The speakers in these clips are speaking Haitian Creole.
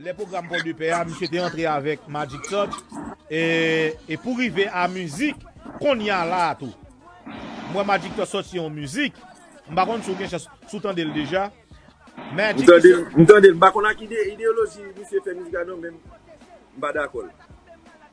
Lè pwogram Pò de Pè a, misye te antre avèk Magic Touch e pou rive a mizik Konnya la a tou. M wè Magic Touch sòti yon mizik, m pa konn si w gen chans, si w tande l deja. M tande l, m tande l. M pa konn ak ideyoloji misye fè mizik la non men m pa dakò l.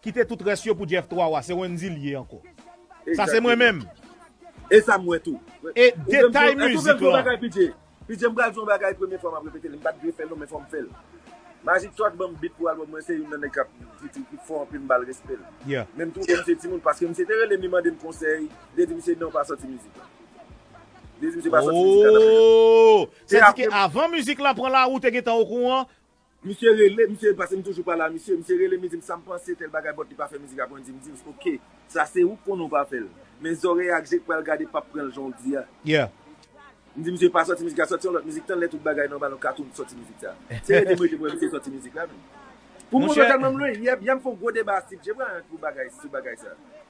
Kite tout rès yo pou Jeff 3 wa se Wendy li ye anko. Sa se mwen menm. Esam wè tou. E detay mizik lan. Pidje m pral di yon bagay premye fwa map repete l m pat dwe fè l non men fòm fèl Magic Track banm beat pou album mwen se youn nan nèg kap feature ki fò anpil m bal respè l menm twouve misye timoun paske misye te relem li mandem konsèy mte di misye non pa sòti mizik la mte di misye pa sòti mizik la oohh se di ke avan mizik la pran lari w te gentan okouran Misye rele misye paske m toujou pale a misye, misye rele m li di m sa m panse tèl bagay bòt li pa fè mizik aprè m di m di w ok sa se ou k konnen w pa fè l men zòrèy ak je k pral gade pap pran l jan w di a. Yeah. M di misye pa sòti mizik la sòti yon lòt mizik tanlè tout bagay nòmal yon katoum sòti mizik sa se rete m rete m wè misye sòti mizik la menm pou moun yo Monchè. tèlman m lwen yè byen m fon gwo deba a Steve J Bryant pou bagay sou bagay sa.